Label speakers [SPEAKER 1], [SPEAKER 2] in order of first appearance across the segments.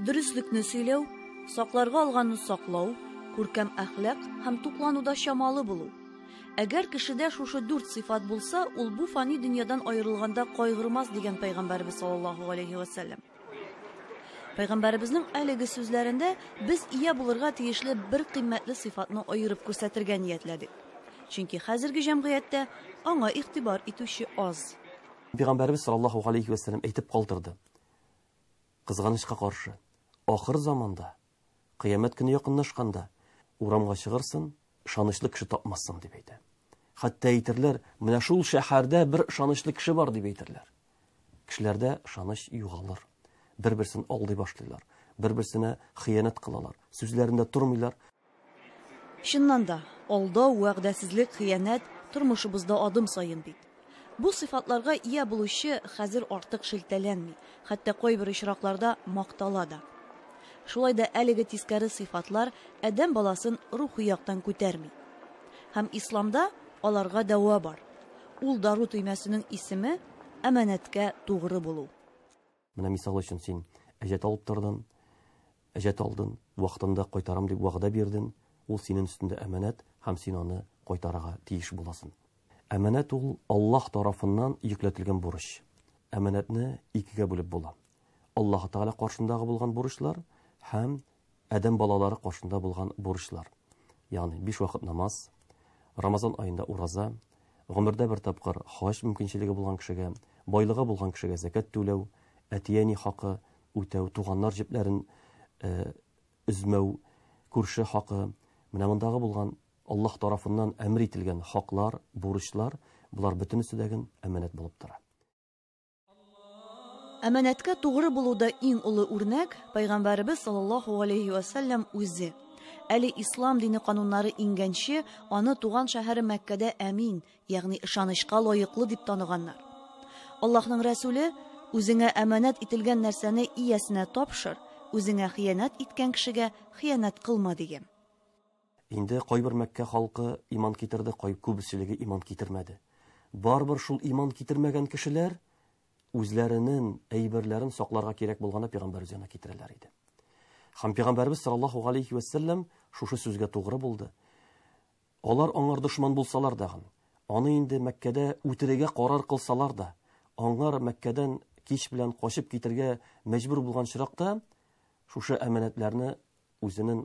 [SPEAKER 1] Дөреслекне сөйләү, сакларга алганны саклау, күркәм әхлак һәм туклануда чамалы булу. Әгәр кешедә шушы дүрт сыйфат булса, ул бу фани дөньядан аерылганда кайгырмас дигән пәйгамбәрбез саллаллаһу алейһи вәсәлләм. Пәйгамбәребезнең әлеге сүзләрендә без ия булырга тиешле бер кыйммәтле сыйфатны аерып күрсәтергә ниятләдек. Чөнки хәзерге җәмгыятьтә аңа игътибар итүче аз. Пәйгамбәребез
[SPEAKER 2] саллаллаһу галәйһи вә сәлләм әйтеп калдырды, Кызганычка каршы, ахыр заманда Кыямәт көне якынлашканда, урамга чыгырсын, ышанычлы кеше тапмассың, дип әйтә. Хәтта әйтерләр, менә шул шәһәрдә бер ышанычлы кеше бар, дип әйтерләр. Кешеләрдә ышаныч югалыр. Бер-берсен алдый башлыйлар, бер-берсенә хыянәт кылалар, сүзләрендә тормыйлар,
[SPEAKER 1] Чыннан да, алдау, вәгъдәсезлек, хыянәт, тормышыбызда адым саен бит. Бу сыйфатларга ия булучы хәзер артык шелтәләнми, хәтта кайбер очракларда мактала да. Шулай да әлеге тискәре сыйфатлар адәм баласын рухи яктан күтәрми. Һәм Исламда аларга дәва бар. Ул дару төймәсенең исеме, әманәткә тугры булу. Менә мисал
[SPEAKER 2] өчен син әҗәт алып тордың, әҗәт алдың, вакытында кайтарам дип вәгъдә бирдең, ул синең өстендә әманәт һәм син аны кайтарырга тиеш буласың. Әманәт ул Аллаһ тарафыннан йөкләтелгән бурыч. Әманәтне икегә бүлеп була. Аллаһ Тәгалә каршындагы булган бурычлар һәм Адәм балалары каршында булган бурычлар, ягъни биш вакыт намаз, Рамазан аенда ураза, гомердә бер тапкыр хаҗ мөмкинчелеге булган кешегә, байлыгы булган кешегә зәкят түләү, әти-әни хакы үтәү, туганнар җепләрен өзмәү, күрше хакы, менә мондагы булган Аллаһ тарафыннан әмер ителгән хаклар, бурычлар, болар бөтенесе дә гөн әманәт булып тора.
[SPEAKER 1] Әманәткә тугры булуда иң олы үрнәк Пайгамбарыбыз саллаллаһу алейхи ва саллям үзе. Әле ислам дине кануннары иңгәнче, аны туган шәһәре Мәккәдә әмин, ягъни ышанычка лаеклы дип таныганнар. Аллаһның Рәсүле, үзеңә әманәт ителгән нәрсәне иясенә тапшыр, үзеңә хыянәт иткән кешегә хыянәт кылма дигән. Инде
[SPEAKER 2] кайбер Мәккә халкы иман китерде, кай күбеселеге иман китермәде. Барыбер шул иман китермәгән кешеләр үзләренен әйберләрен сакларга кирәк булганда пигамбәрбез янына китерәләр иде. Хәм пигамбәрбез саллаллаһу галейхи ва сәлләм шушы сүзгә тугры булды. Алар аңар дошман булсалар дагын, аны инде Мәккәдә үтерегә карар кылсалар да, аңар Мәккәдән кич белән качып китергә мәҗбүр булган чиракта шушы әманәтләрне үзенен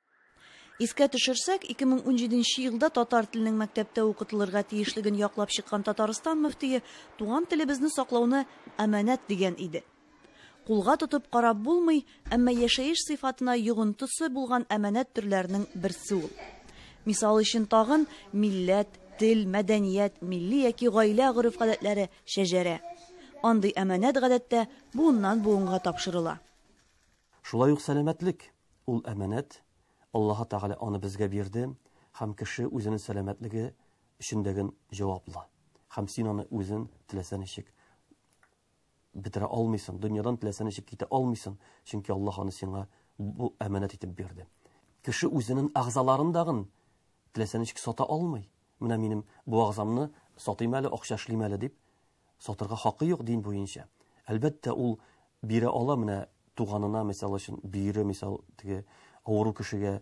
[SPEAKER 1] Искә төшерсәк, 2017 елда татар теленең мәктәптә укытылырга тиешлеген яклап чыккан Татарстан мөфтие туган телебезне саклауны әманәт дигән иде. Кулга тотып карап булмый, әмма яшәеш сыйфатына йогынтысы булган әманәт төрләренең берсе ул. Мисал өчен тагын милләт, тел, мәдәният, милли яки гаилә гореф-гадәтләре, шәҗәрә. Андый әманәт гадәттә буыннан-буынга тапшырыла. Шулай
[SPEAKER 2] ук сәламәтлек, Ул әманәт, Аллаһы Тәгалә аны безгә бирде, һәм кеше үзенең сәламәтлеге өчендәген җаваплы. Һәм син аны үзен теләсә ничек бетерә алмыйсың, дөньядан теләсә ничек китә алмыйсың, чөнки Аллаһ аны сиңа бу әманәт итеп бирде. Кеше үзенең әгъзаларын дагын теләсә ничек сата алмый. Менә минем бу әгъзамны сатыйм әле, акча эшлим әле дип, сатырга хакы юк дин буенча. Әлбәттә, ул бирә ала менә туганына, мисал өчен, бөере, мисал, теге авыру кешегә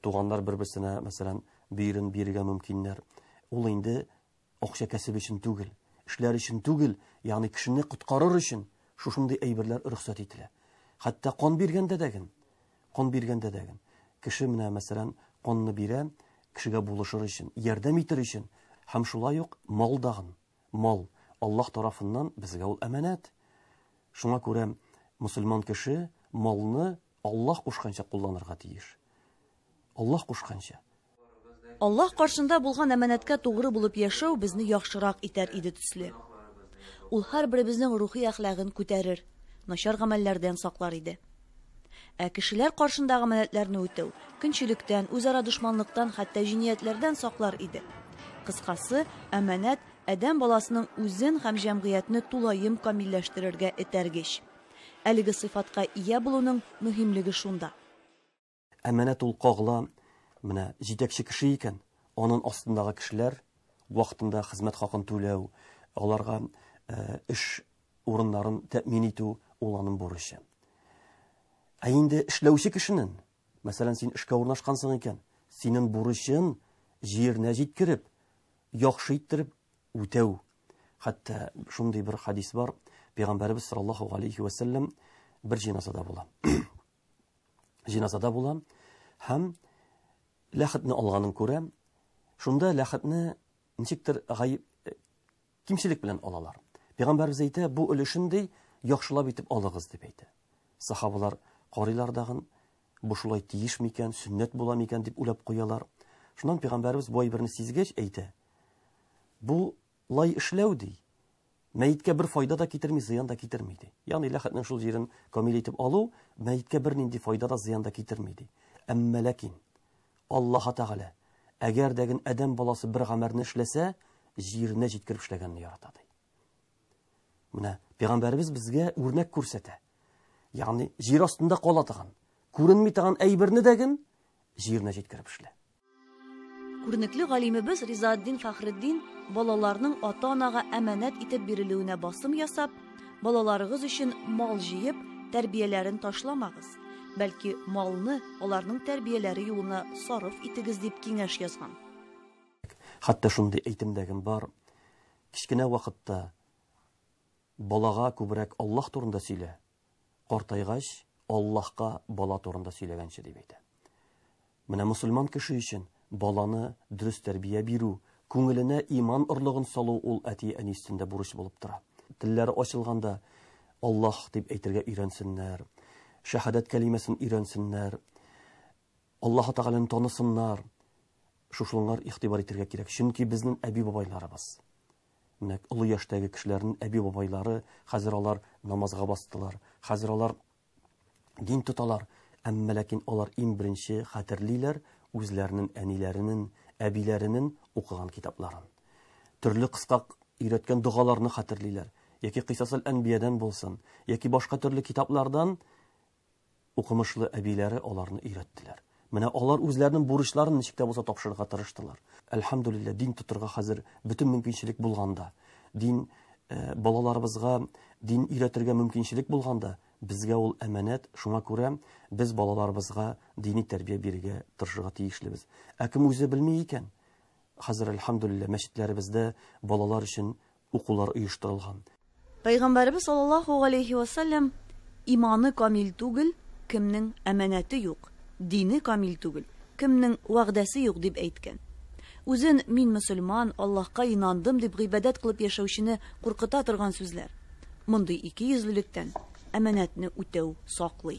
[SPEAKER 2] туганнар бер-берсенә, мәсәлән, бөерен бирергә мөмкиннәр. Ул инде акча кәсеп өчен түгел, эшләр өчен түгел, ягъни кешене коткарыр өчен шушындый әйберләр рөхсәт ителә. Хәтта кан биргәндә дә ген, кан биргәндә дә ген, кеше менә, мәсәлән, канны бирә, кешегә булышыр өчен, ярдәм итер өчен, һәм шулай ук мал да ген. Мал, Аллаһ тарафыннан безгә ул әманәт. Шуңа күрә мөселман кеше малны Аллаһ кушканча кулланырга тиеш. Аллаһ кушканча. Аллаһ
[SPEAKER 1] каршында булган әманәткә тугры булып яшәү безне яхшырак итәр иде төсле. Ул һәрберебезнең рухи әхлагын күтәрер, начар гамәлләрдән саклар иде. Ә кешеләр каршында гамәнәтләрне үтәү, көнчелектән, үзара дошманлыктан, хәтта җиниятләрдән саклар иде. Кыскасы, әманәт адәм баласының үзен һәм җәмгыятьне тулаем камилләштерергә этәргеч. Әлеге сыйфатка ия булуның мөһимлеге шунда. Ә менә
[SPEAKER 2] Тулкагла менә җитәкче кеше икән, анын астындагы кешеләр вакытында хезмәт хакын түләү, аларга эш урыннарын тәэмин итү ул анын бурычы. Ә инде эшләүче кешенен, мәсәлән, син эшкә урнашкансың икән, синен бурычын җиренә җиткереп, яхшы иттереп үтәү. Хәтта шундый бер хадис бар, пәйгамбәребез саллаллаһу алейхи вә сәлләм бер җиназада була. җиназада булам һәм ләхетне алганын күрәм. Шунда ләхетне ничектер гаеп э, кимчелек белән алалар. Пәйгамбәрбез әйтә, бу өлешен ди, яхшылап итеп алыгыз дип әйтә. Сахабалар карыйлар дагын, бу шулай тиеш микән, сөннәт була микән дип уйлап куялар. Шуннан пәйгамбәрбез бай берне сизгәч әйтә, бу Лай эшләү, ди, мәеткә бер файда да китерми, зыян да китерми, ди. Ягъни ләхетнең шул җирен камил итеп алу мәеткә бернинди файда да, зыян да китерми, ди. Әмма ләкин Аллаһа Тәгалә, әгәр дә гел адәм баласы бер гамәрне эшләсә, җиренә җиткереп эшләгәнне ярата, ди. Менә пәйгамбәребез безгә үрнәк күрсәтә. Ягъни җир астында кала торган, күренми торган әйберне дә гел җиренә җиткереп эшлә.
[SPEAKER 1] Күренекле галимебез Ризаатдин Фахретдин балаларның ата-анага әманәт итеп бирелүенә басым ясап, балаларыгыз өчен мал җыеп, тәрбияләрен ташламагыз, бәлки малны аларның тәрбияләре юлына сарыф итегез дип киңәш язган.
[SPEAKER 2] Хәтта шундый әйтемдәгем бар, кечкенә вакытта балага күбрәк Аллаһ турында сөйлә, картайгач, Аллаһка бала турында сөйләгәнче дип әйтә. Менә мөселман кеше өчен баланы дөрес тәрбия бирү, күңеленә иман орлыгын салу ул әти-әни өстендә бурыч булып тора. Телләре ачылганда Аллаһ дип әйтергә өйрәнсеннәр, шәһадәт кәлимәсен өйрәнсеннәр, Аллаһы Тәгаләне танысыннар. Шушылыңар игътибар итергә кирәк, чөнки безнең әби-бабайларыбыз. Нәкъ олы яшьтәге кешеләрнең әби-бабайлары, хәзер алар намазга бастылар, хәзер алар дин тоталар, әмма ләкин алар иң беренче хәтерлиләр үзләренең әниләренең, әбиләренең укыган китапларын. Төрле кыска өйрәткән догаларны хәтерлиләр, яки Кыйсасел-әнбиядән булсын, яки башка төрле китаплардан укымышлы әбиләре аларны өйрәттеләр. Менә алар үзләренең бурычларын ничек тә булса тапшырырга тырыштылар. Әлхәмдулилләһ, дин тотырга хәзер бөтен мөмкинчелек булганда, дин э, балаларыбызга дин өйрәтергә мөмкинчелек булганда, безгә ул әманәт, шуңа күрә без балаларыбызга дини тәрбия бирергә тырышырга тиешлебез. Ә кем үзе белми икән? Хәзер әлхәмдулилләһ мәчетләребездә балалар өчен укулар оештырылган. Пәйгамбәребез
[SPEAKER 1] саллаллаһу галәйһи вә сәлләм, Иманы камил түгел, кемнең әманәте юк, дине камил түгел, кемнең вәгъдәсе юк, дип әйткән. Үзен мин мөселман, Аллаһка инандым дип гыйбадәт кылып яшәүчене куркыта торган сүзләр. Мондый икейөзлелектән әманәтне үтәү саклый.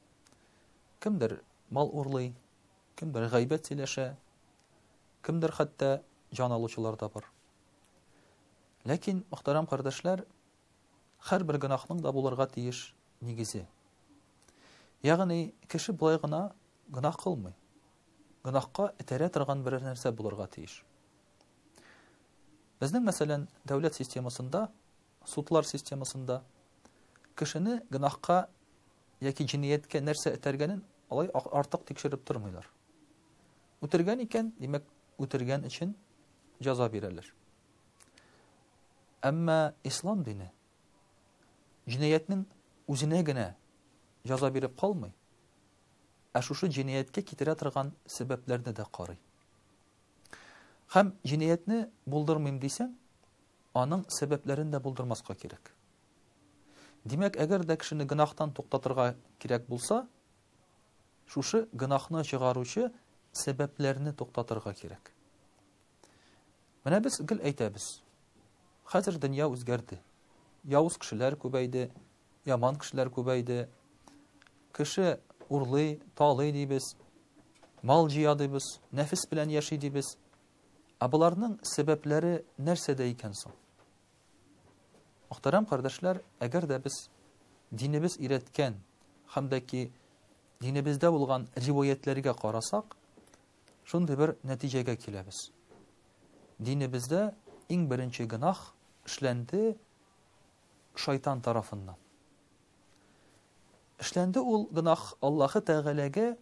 [SPEAKER 3] Кемдер мал урлый, кемдер гайбәт сөйләшә, кемдер хәтта җан алучылар да бар. Ләкин, мөхтәрәм кардәшләр, һәрбер гөнаһның да булырга тиеш нигезе. Ягъни, кеше болай гына гөнаһ кылмый. Гөнаһка этәрә торган берәр нәрсә булырга тиеш. Безнең мәсәлән, дәүләт системасында Судлар системасында кешене гөнаһка яки җинияткә нәрсә этәргәнен алай артык тикшереп тормыйлар. Үтергән икән, димәк, үтергән өчен җәза бирәләр. Әмма ислам дине җинаятьнең үзенә генә җәза биреп калмый, ә шушы җинаятькә китерә торган сәбәпләрне дә карый. Хәм җинаятьне булдырмыйм дисәң, Аның сәбәпләрен дә булдырмаска кирәк. Димәк, әгәр дә кешене гөнаһтан туктатырга кирәк булса, шушы гөнаһны чыгаручы сәбәпләрне туктатырга кирәк. Менә без гел әйтәбез. Хәзер дөнья үзгәрде. Явыз кешеләр күбәйде, яман кешеләр күбәйде. Кеше урлый, талый дибез, мал җыя дибез, нәфес белән яши дибез. Ә боларның сәбәпләре нәрсәдә икән соң? Мөхтәрәм кардәшләр, әгәр дә без динебез өйрәткән һәм дә ки динебездә булган риваятләргә карасак, шундый бер нәтиҗәгә киләбез. Динебездә иң беренче гынах эшләнде шайтан тарафыннан. Эшләнде ул гынах Аллаһы Тәгаләгә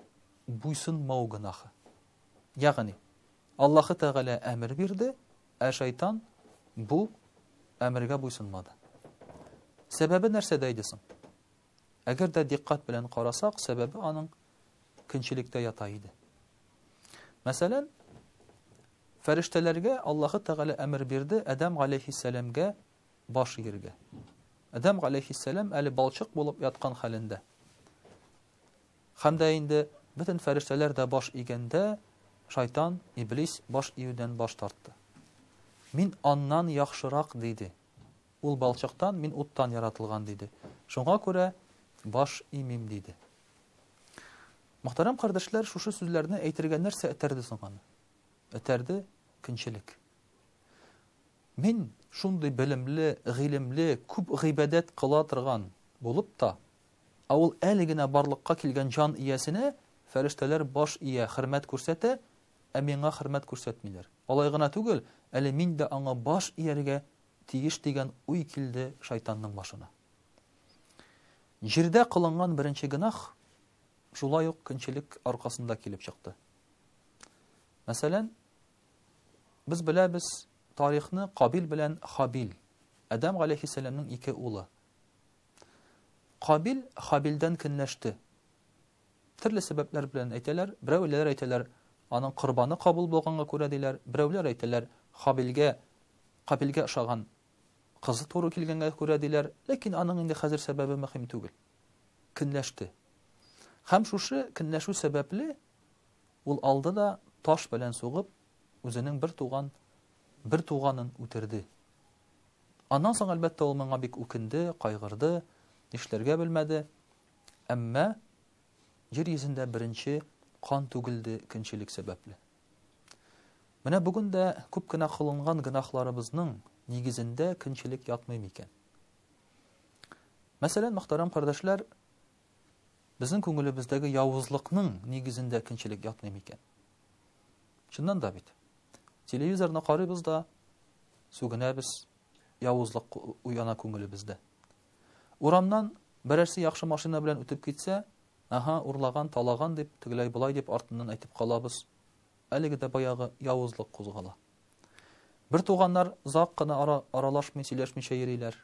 [SPEAKER 3] буйсынмау гынахы. Ягъни, Аллаһы Тәгалә әмер бирде, ә шайтан бу әмергә буйсынмады. Сәбәбе нәрсәдә иде соң? Әгәр дә диккать белән карасак, сәбәбе аның көнчелектә ята иде. Мәсәлән, фәрештәләргә Аллаһы Тәгалә әмер бирде Адәм галәйһиссәламгә баш игергә. Адәм галәйһиссәлам әле балчык булып яткан хәлендә. Һәм дә инде бөтен фәрештәләр дә баш игәндә, шайтан, иблис, баш июдән баш тартты. Мин аннан яхшырак, диде. Ул балчыктан, мин уттан яратылган, диде. Шуңа күрә баш имим, диде. Мөхтәрәм кардәшләр, шушы сүзләрне әйтергә нәрсә этәрде соң аны? Этәрде көнчелек. Мин шундый белемле, гыйлемле, күп гыйбадәт кыла торган булып та, Ә ул әле генә барлыкка килгән җан иясенә фәрештәләр баш ия, хөрмәт күрсәтә, ә миңа хөрмәт күрсәтмиләр. Алай гына түгел, әле мин дә аңа баш ияргә тиеш дигән уй килде шайтанның башына. Җирдә кылынган беренче гөнаһ шулай ук көнчелек аркасында килеп чыкты. Мәсәлән, без беләбез тарихны Кабил белән Хабил, Адәм галәйһиссәламнең ике улы. Кабил Хабилдән көнләште. Төрле сәбәпләр белән әйтәләр. Берәүләр әйтәләр, аның корбаны кабул булганга күрә диләр. Берәүләр әйтәләр, Хабилгә Кабилгә ошаган кызы туры килгәнгә күрә диләр. Ләкин аның инде хәзер сәбәбе мөһим түгел. Көнләште. Һәм шушы көнләшү сәбәпле ул алды да таш белән сугып, үзенең бер туган бер туганын үтерде. Аннан соң, әлбәттә, ул моңа бик үкенде, кайгырды, нишләргә белмәде. Әмма җир йөзендә беренче кан түгелде көнчелек сәбәпле. Менә бүген дә күп кенә кылынган гөнаһларыбызның нигезендә көнчелек ятмый микән? Мәсәлән, мөхтәрәм кардәшләр, безнең күңелебездәге явызлыкның нигезендә көнчелек ятмый микән? Чыннан да бит. Телевизорны карыйбыз да, сүгенәбез, явызлык уяна күңелебездә. Урамнан берәрсе яхшы машина белән үтеп китсә, аһа, урлаган, талаган дип, тегеләй болай дип артыннан әйтеп калабыз. Әлеге дә баягы явызлык кузгала. Бер туганнар зак кына ара, аралашмый, сөйләшмичә йөриләр.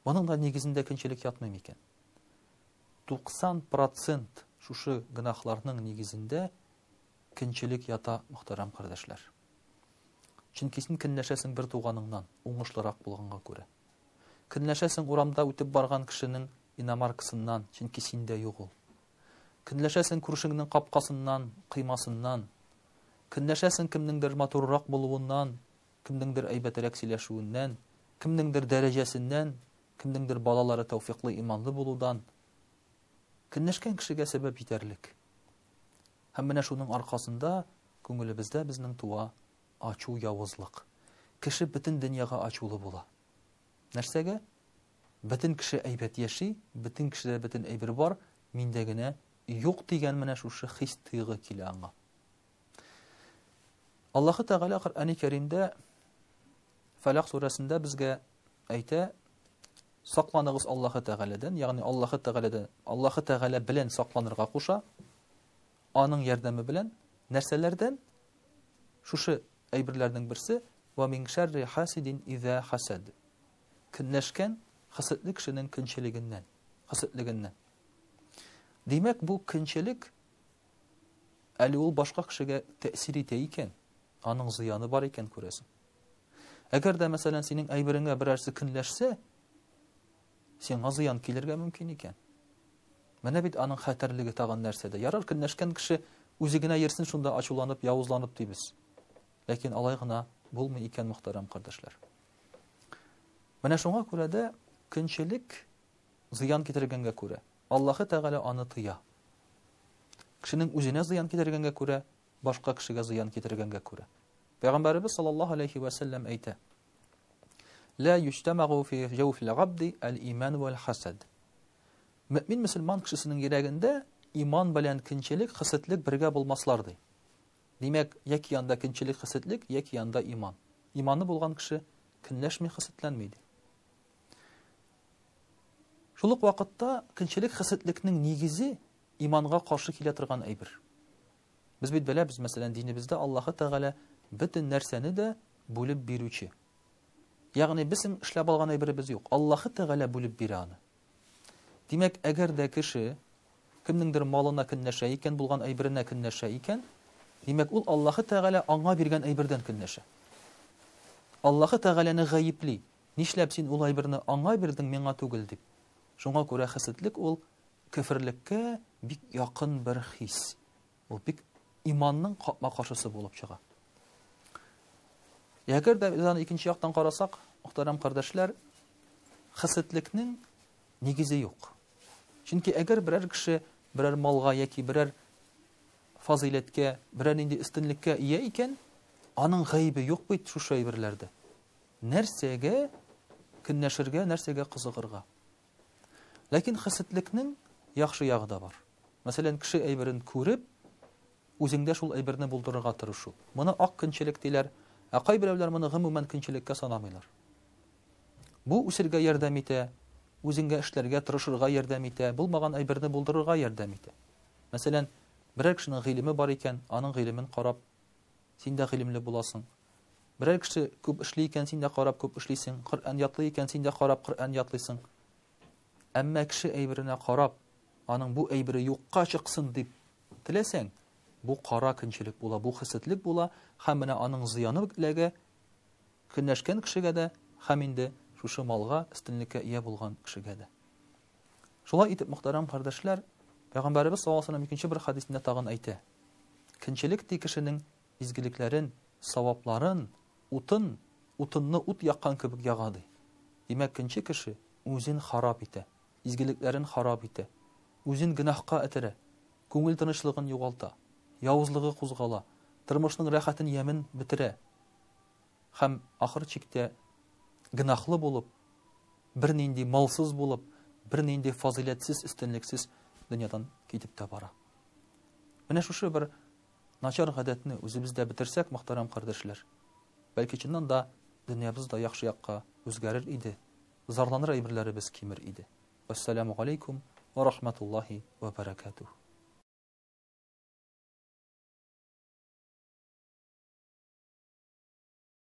[SPEAKER 3] Моның да нигезендә көнчелек ятмый микән? 90 процент шушы гөнаһларның нигезендә көнчелек ята, мөхтәрәм кардәшләр. Чөнки син көнләшәсең бер туганыңнан, уңышлырак булганга күрә. Көнләшәсең урамда үтеп барган кешенең иномаркасыннан, чөнки синдә юк ул. Көнләшәсең күршеңнең капкасыннан, кыймасыннан. Көнләшәсең кемнеңдер матуррак булуыннан, кемнеңдер әйбәтерәк сөйләшүеннән, кемнеңдер дәрәҗәсеннән, Кемнеңдер балалары тәүфиклы, иманлы булудан көнләшкән кешегә сәбәп җитәрлек. Һәм менә шуның аркасында күңелебездә безнең туа ачу, явызлык. Кеше бөтен дөньяга ачулы була. Нәрсәгә? Бөтен кеше әйбәт яши, бөтен кешедә бөтен әйбер бар, миндә генә юк дигән менә шушы хис-тойгы килә аңа. Аллаһы Тәгалә Коръәни Кәримдә Фәләк сүрәсендә безгә әйтә, сакланыгыз Аллаһы Тәгаләдән, ягъни Аллаһы Тәгаләдән, Аллаһы Тәгалә белән сакланырга куша, аның ярдәме белән нәрсәләрдән? Шушы әйберләрнең берсе ва мин шәрри хасидин иза хасад. Көнләшкән хасидле кешенең көнчелегеннән, хасидлегеннән. Димәк, бу көнчелек Әле ул башка кешегә тәэсир итә икән, аның зыяны бар икән, күрәсең. Әгәр дә, мәсәлән, синең әйбереңә берәрсе көнләшсә, сиңа зыян килергә мөмкин икән. Менә бит аның хәтәрлеге тагын нәрсәдә. Ярар, көнләшкән кеше үзе генә йөрсен шунда ачуланып, явызланып дибез. Ләкин алай гына булмый икән, мөхтәрәм кардәшләр. Менә шуңа күрә дә көнчелек зыян китергәнгә күрә, Аллаһы Тәгалә аны тыя. Кешенең үзенә зыян китергәнгә күрә, башка кешегә зыян китергәнгә күрә. Пәйгамбәребез саллаллаһу алейһи вә сәлләм әйтә, Лә юҗтәмәгу фи җәүфил габди әл-иман вәл-хасад. Мөэмин мөселман кешесенең йөрәгендә иман белән кинчелек, хисетлек бергә булмаслар ди. Димәк, яки анда кинчелек, хисетлек, яки анда иман. Иманы булган кеше көнләшми, хисетләнми ди. Шул ук вакытта көнчелек хисетлекнең нигезе иманга каршы килә торган әйбер. Без бит беләбез, мәсәлән, динебездә Аллаһы Тәгалә бөтен нәрсәне дә бүлеп бирүче. Ягъни безнең эшләп алган әйберебез юк. Аллаһы Тәгалә бүлеп бирә аны. Димәк, әгәр дә кеше кемнеңдер малына көнләшә икән, булган әйберенә көнләшә икән, димәк, ул Аллаһы Тәгалә аңа биргән әйбердән көнләшә. Аллаһы Тәгаләне гаепли, Нишләп син ул әйберне аңа бирдең, миңа түгел? дип. Шуңа күрә хәседлек ул көферлеккә бик якын бер хис. Ул бик иманның капма-каршысы булып чыга. Әгәр дә без аны икенче яктан карасак, мөхтәрәм кардәшләр, хәсетлекнең нигезе юк. Чөнки әгәр берәр кеше берәр малга яки берәр фазыйләткә, берәр нинди өстенлеккә ия икән, аның гаебе юк бит шушы әйберләрдә. Нәрсәгә көнләшергә, нәрсәгә кызыгырга? Ләкин хәсетлекнең яхшы ягы да бар. Мәсәлән, кеше әйберен күреп, үзеңдә шул әйберне булдырырга тырышу. Моны ак көнчелек диләр, ә кайберәүләр моны гомумән көнчелеккә санамыйлар. Бу үсергә ярдәм итә, үзеңгә эшләргә, тырышырга ярдәм итә, булмаган әйберне булдырырга ярдәм итә. Мәсәлән, берәр кешенең гыйлеме бар икән, аның гыйлемен карап, Син дә гыйлемле буласың. Берәр кеше күп эшли икән, син дә карап күп эшлисең, Коръән ятлый икән, син дә карап Коръән ятлыйсың. Әмма кеше әйберенә карап, аның бу әйбере юкка чыксын дип теләсәң, бу кара көнчелек була, бу хәсетлек була һәм менә аның зыяны ук эләгә көнләшкән кешегә дә һәм инде шушы малга, өстенлеккә ия булган кешегә дә. Шулай итеп, мөхтәрәм кардәшләр, Пәйгамбәребез саллаллаһу алейһи ва сәлләм икенче бер хәдисендә тагын әйтә, Кенчелек ти кешенең изгелекләрен, савапларын, утын, утынны ут яккан кебек яга, ди. Димәк, кенче кеше үзен харап итә, изгелекләрен харап итә, үзен гөнаһка этәрә, күңел тынычлыгын югалта, явызлыгы кузгала, тормышның рәхәтен ямен бетерә һәм ахыр чиктә гөнаһлы булып, бернинди малсыз булып, бернинди фазыйләтсез, өстенлексез дөньядан китеп тә бара. Менә шушы бер начар гадәтне үзебездә бетерсәк, мөхтәрәм кардәшләр, бәлки чыннан да дөньябыз да яхшы якка үзгәрер иде, зарланыр әйберләребез кимер иде. Вассаламу галейкум ва рахматуллахи ва баракатуһ.